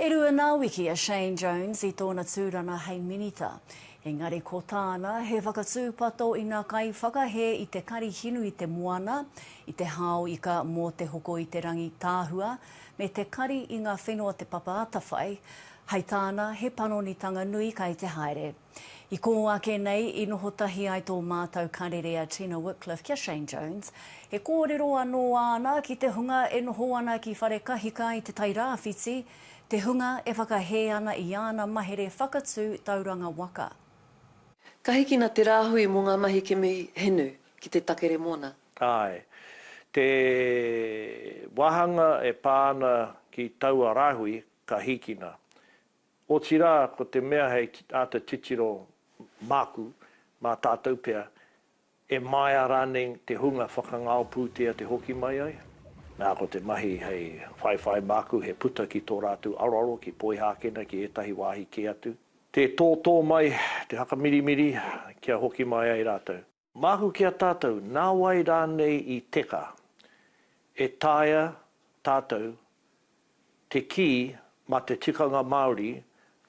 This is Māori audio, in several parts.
E rua nā wiki a Shane Jones i tōna tūranga hei minita, engari ko tāna he whakatūpato ina kaiwhakahē i te karihinu i te moana, i te hao ika mō te hoko i te rangi tāhua, me te kari i ngā whenua te papa atawhai, hai tāna he panonitanga nui kai te haere. I kō ake nei, i noho tahi ai tō mātau karere a Tina Wickliffe ki a Shane Jones. He kōrero anō āna ki te hunga e noho ana ki Wharekahika i Te Tai Rāwhiti, te hunga e whakahē ana i āna mahere whakatū tauranga waka. Ka hikina te rāhui mō ngā mahi kimi hinu ki te takere mōna. Āe. Te wāhanga e pā ana ki taua rāhui ka hikina. Otirā, ko te mea hei āta titiro māku, mā tātou pea, e maea rānei te hunga whakangao pūtea te hoki mai ai? Nā, ko te mahi hei whaiwhai māku he puta ki tō rātou aroaro ki Poihākena, ki ētahi wāhi kē atu, tē tōtō mai te hakamirimiri kia hoki mai ai rātou. Māku ki a tātou, nā wai rānei i teka, e taea tātou te kī mā te tikanga Māori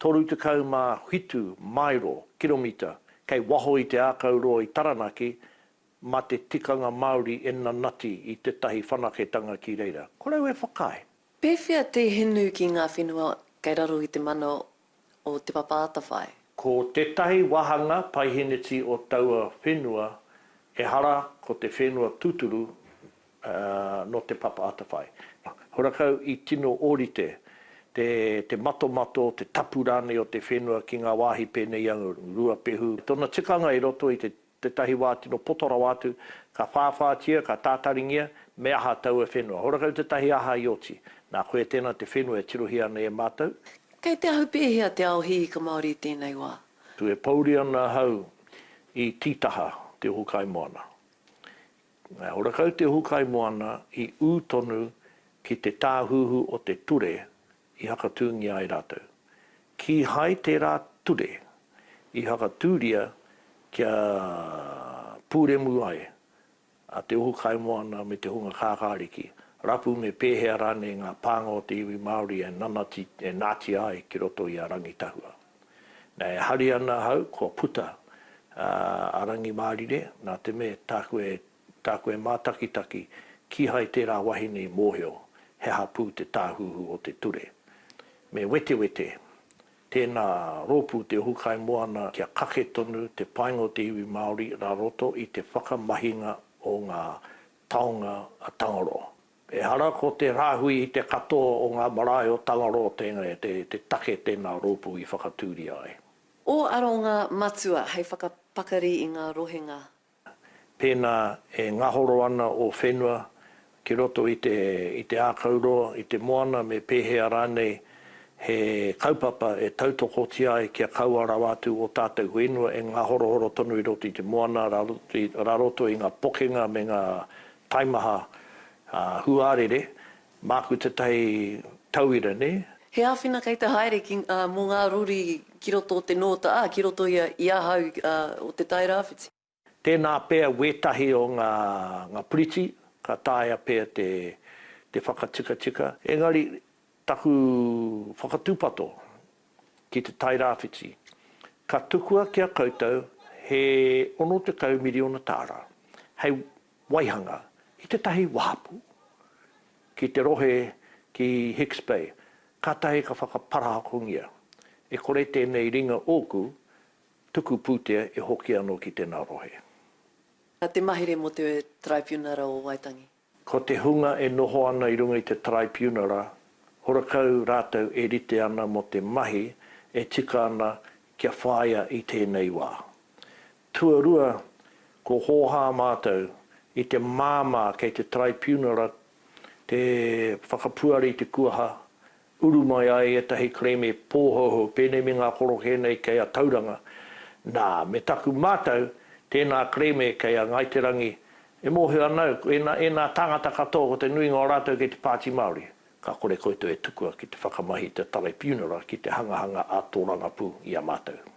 37 maero, kiromita, kei waho i te ākau roa i Taranaki mā te tikanga Māori e nanati i tētahi whanaketanga ki reira. Korou e whakaae. Pēwhea te hinu ki ngā whenua kei raro i te mana o Te Papa Atawhai. Ko tētahi wāhanga paiheneti o taua whenua ehara ko te whenua tūturu nō Te Papa Atawhai. Horakau i tino ōrite te matomato, te tapu rānei o te whenua ki ngā wāhi pēnei i a Ruapehu. Tōna tikanga i roto i te Tētahi wā tino poto rawa atu, ka whāwhātia, ka tātaringia, me aha taua whenua. Horakau tētahi aha i oti. Nā, koia tēnā te whenua e tirohia ana i a mātou. Kei te ahu pēhea te ao hiika Māori i tēnei wā? Tu e pouri ana ahau i tītaha te ohu kaimoana. Nā, horakau te ohu kaimoana i ū tonu ki te tāhuhu o te ture i hakatūngia ai rātou. Kīhai tērā ture i hakatūria kia pūremu ai a Te Ohu Kaimoana me te hunga kākāriki, rapu me pēhea rānei ngā pānga o te iwi Māori e nanati, e nātia ai ki roto i a Rangitahua. Nā, e hari ana ahau kua puta a Rangimārire, nā te mea tāku e Tā koe mātakitaki, kīhai tērā wahine i mōhio he aha pū te tāhuhu o te ture. Me wetewete, tēnā rōpū te ohukai moana kia kake tonu te painga o te iwi Māori rā roto i te whakamahinga o ngā taonga a Tangaroa. Ehara ko te rāhui i te katoa o ngā marae o Tangaroa tēnei te take tēnā rōpū i whakatūria ai. Ō aronga matua hei whakapakari i ngā rohenga Pēnā e ngahoro ana ō whenua ki roto i te i te ākau roa, i te moana me pēhea rānei, he kaupapa e tautokotia ai kia kaua rawa atu ō tātou whenua e ngahorohoro tonu i roto i te moana rā roto i ngā pokenga me ngā taimaha huarere Māku tētahi tauira, nē? He āwhina kei te haere ki, ā, mō ngā rori ki roto o te nōta, ā, ki roto ia i ahau, ā, o Te Tai Rāwhiti. Tēnā pea wētahi o ngā, ngā puriti, ka taea pea te, te whakatikatika. Engari, taku whakatūpato ki Te Tai Rāwhiti, ka tukua ki a koutou he 60 miriona tāra, hei Waihanga ki tētahi wahapū ki te rohe ki Hicks Bay, kātahi ka whakaparahakongia, e kore tēnei ringa ōku tuku pūtea e hoki anō ki tēnā rohe. Na te mahere mo te Taraipiunara o Waitangi. Ko te hunga e noho ana i runga i te Taraipiunara, horakau rātou e rite ana mo te mahi e tika ana kia whāia i tēnei wā. Tuarua, ko Hōhā mātou i te māmā kei te Taraipiunara te whakapuare i te kuaha, uru mai ai ētahi kerēme pōhouhou, pēnei me ngā korokē nei kei a Tauranga. Nā, me taku mātau, tēnā kerēme kei a Ngāi Te Rangi, e mōhio ana au, ēnā, ēnā tāngata katoa ko te nuinga o rātou kei te Pāti Māori, ka kore koutou e tukua ki te whakamahi i te Taraipiunara ki te hangahanga ā-tōrangapū i a mātou.